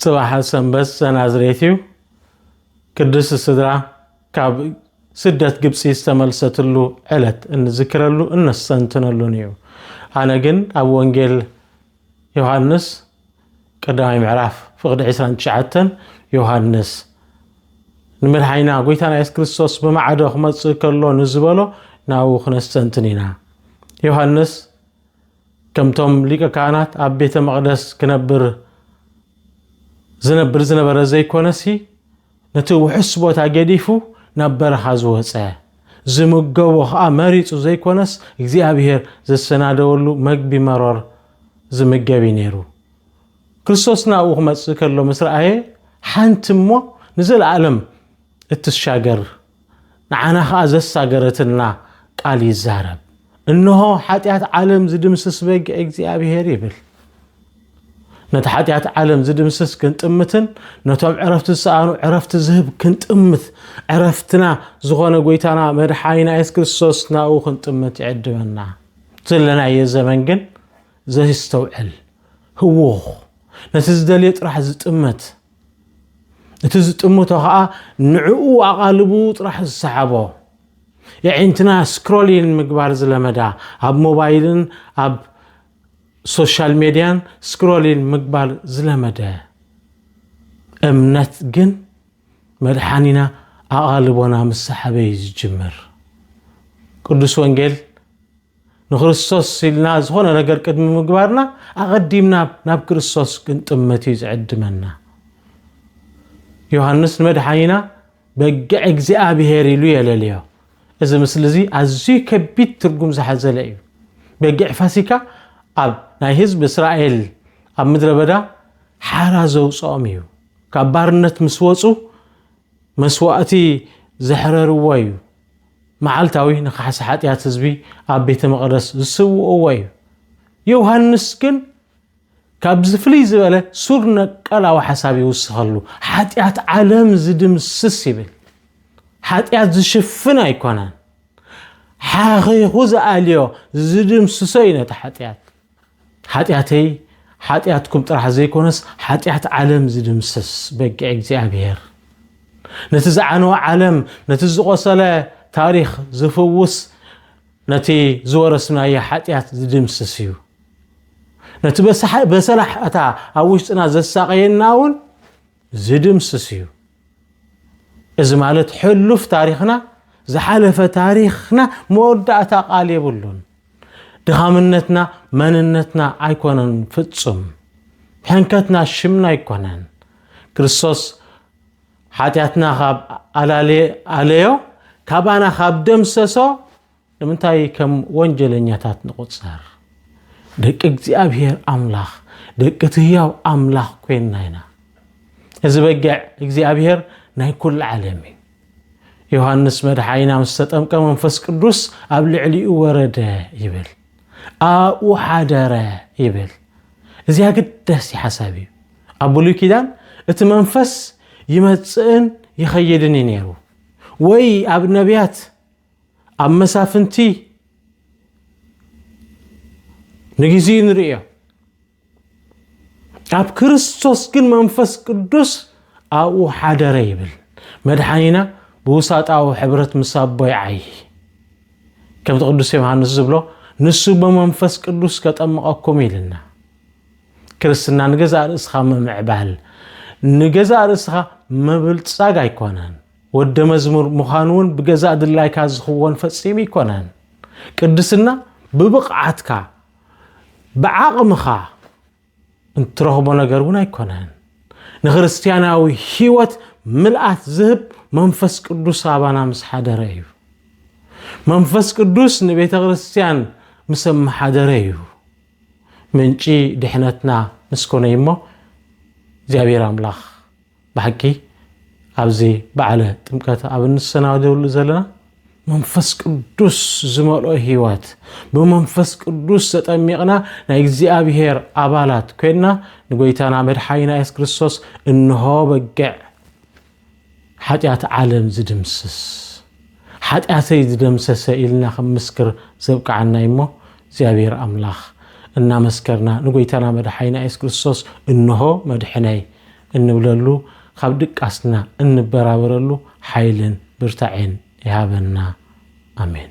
ጽባሕ ሰንበት ዘናዝሬት እዩ። ቅድስት ስድራ ካብ ስደት ግብፂ ዝተመልሰትሉ ዕለት እንዝክረሉ እነስተንትነሉን እዩ። ኣነ ግን ኣብ ወንጌል ዮሃንስ ቀዳማይ ምዕራፍ ፍቕዲ 29 ዮሃንስ ንመድሓኒና ጎይታና የሱስ ክርስቶስ ብማዕዶ ክመፅእ ከሎ ንዝበሎ ናብኡ ክነስተንትን ኢና። ዮሃንስ ከምቶም ሊቀ ካህናት ኣብ ቤተ መቕደስ ክነብር ዝነብር ዝነበረ ዘይኮነሲ ነቲ ውሕስ ቦታ ገዲፉ ናብ በረኻ ዝወፀ ዝምገቦ ከዓ መሪፁ ዘይኮነስ እግዚኣብሔር ዘሰናደወሉ መግቢ መሮር ዝምገብ እዩ ነይሩ። ክርስቶስ ናብኡ ክመፅእ ከሎ ምስ ረኣየ ሓንቲ እሞ ንዘለኣለም እትሻገር ንዓና ኸኣ ዘሳገረትና ቃል ይዛረብ። እንሆ ሓጢኣት ዓለም ዝድምስስ በጊዕ እግዚኣብሔር ይብል። ነቲ ሓጢኣት ዓለም ዝድምስስ ክንጥምትን ነቶም ዕረፍቲ ዝሰኣኑ ዕረፍቲ ዝህብ ክንጥምት ዕረፍትና ዝኾነ ጎይታና መድሓኒና የሱስ ክርስቶስ ናብኡ ክንጥምት ይዕድመና ዘለናዮ ዘመን ግን ዘይስተውዕል ህውኽ ነቲ ዝደልዮ ጥራሕ ዝጥመት እቲ ዝጥምቶ ከዓ ንዕኡ ኣቓልቡ ጥራሕ ዝሰሓቦ የዒንትና ስክሮሊን ምግባር ዝለመዳ ኣብ ሞባይልን ኣብ ሶሻል ሜድያን ስክሮሊን ምግባር ዝለመደ እምነት ግን መድሓኒና ኣቓልቦና ምስ ሰሓበ እዩ ዝጅምር ቅዱስ ወንጌል ንክርስቶስ ኢልና ዝኾነ ነገር ቅድሚ ምግባርና ኣቐዲምና ናብ ክርስቶስ ክንጥመት እዩ ዝዕድመና። ዮሃንስ ንመድሓኒና በግዕ እግዚኣብሄር ኢሉ የለልዮ። እዚ ምስሊ እዚ ኣዝዩ ከቢድ ትርጉም ዝሓዘለ እዩ። በግዕ ፋሲካ ኣብ ናይ ህዝቢ እስራኤል ኣብ ምድረ በዳ ሓራ ዘውፅኦም እዩ። ካብ ባርነት ምስ ወፁ መስዋእቲ ዘሕረርዎ እዩ። መዓልታዊ ንካሕሳ ሓጥያት ህዝቢ ኣብ ቤተ መቐደስ ዝስውእዎ እዩ። ዮውሃንስ ግን ካብዚ ፍልይ ዝበለ ሱር ነቀላዊ ሓሳብ ይውስኸሉ። ሓጢኣት ዓለም ዝድምስስ ይብል። ሓጢኣት ዝሽፍን ኣይኮነን። ሓኺኹ ዝኣልዮ ዝድምስሶ እዩ ነቲ ሓጢኣት። ሓጢኣተይ ሓጢኣትኩም ጥራሕ ዘይኮነስ ሓጢኣት ዓለም ዝድምስስ በጊዕ እግዚኣብሔር ነቲ ዝዓነወ ዓለም ነቲ ዝቆሰለ ታሪኽ ዝፍውስ ነቲ ዝወረስናዮ ሓጢኣት ዝድምስስ እዩ ነቲ በሰላሕታ ኣብ ውሽጥና ዘሳቀየና እውን ዝድምስስ እዩ እዚ ማለት ሕሉፍ ታሪኽና ዝሓለፈ ታሪኽና መወዳእታ ቃል የብሉን ድኻምነትና መንነትና ኣይኮነን ፍጹም ሕንከትና ሽምና ኣይኮነን ክርስቶስ ሓጢኣትና ካብ ኣለዮ ካባና ካብ ደምሰሶ ንምንታይ ከም ወንጀለኛታት ንቑፀር ደቂ እግዚኣብሔር ኣምላኽ ደቂ ትህያው ኣምላኽ ኮይንና ኢና እዚ በጊዕ እግዚኣብሔር ናይ ኩሉ ዓለም እዩ ዮሃንስ መድሓይና ምስ ተጠምቀ መንፈስ ቅዱስ ኣብ ልዕሊኡ ወረደ ይብል ኣብኡ ሓደረ ይብል እዚ ኣገዳሲ ሓሳብ እዩ ኣብ ብሉይ ኪዳን እቲ መንፈስ ይመፅእን ይኸይድን እዩ ነይሩ ወይ ኣብ ነቢያት ኣብ መሳፍንቲ ንግዜኡ ንርእዮ ኣብ ክርስቶስ ግን መንፈስ ቅዱስ ኣብኡ ሓደረ ይብል መድሓኒና ብውሳጣዊ ሕብረት ምስ ኣቦ ይዓይ ከምቲ ቅዱስ ዮሃንስ ዝብሎ ንሱ ብመንፈስ ቅዱስ ከጠምቐኩም ኢልና ክርስትና ንገዛእ ርእስኻ ምምዕባል ንገዛእ ርእስኻ ምብልጻግ ኣይኮነን ወደ መዝሙር ምዃን እውን ብገዛእ ድላይካ ዝኽወን ፈጺሙ ኣይኮነን ቅድስና ብብቕዓትካ ብዓቕምኻ እንትረኽቦ ነገር እውን ኣይኮነን ንክርስትያናዊ ህይወት ምልኣት ዝህብ መንፈስ ቅዱስ ኣባና ምስ ሓደረ እዩ መንፈስ ቅዱስ ንቤተ ክርስትያን ምስ ኣመሓደረ እዩ ምንጪ ድሕነትና ምስ ኮነ እሞ እግዚኣብሔር ኣምላኽ ብሓቂ ኣብዚ በዓለ ጥምቀት ኣብ እንሰናደሉ ዘለና መንፈስ ቅዱስ ዝመልኦ ህይወት ብመንፈስ ቅዱስ ተጠሚቕና ናይ እግዚኣብሔር ኣባላት ኮይንና ንጎይታና መድሓኒና የሱስ ክርስቶስ እንሆ በግዕ ሓጢኣት ዓለም ዝድምስስ ሓጢኣተይ ዝደምሰሰ ኢልና ክምስክር ዘብቅዓና እዩ እሞ እግዚኣብሔር ኣምላኽ እናመስከርና ንጎይታና መድሓይና የሱስ ክርስቶስ እንሆ መድሕነይ እንብለሉ ካብ ድቃስና እንበራበረሉ ሓይልን ብርታዔን ይሃበና ኣሜን።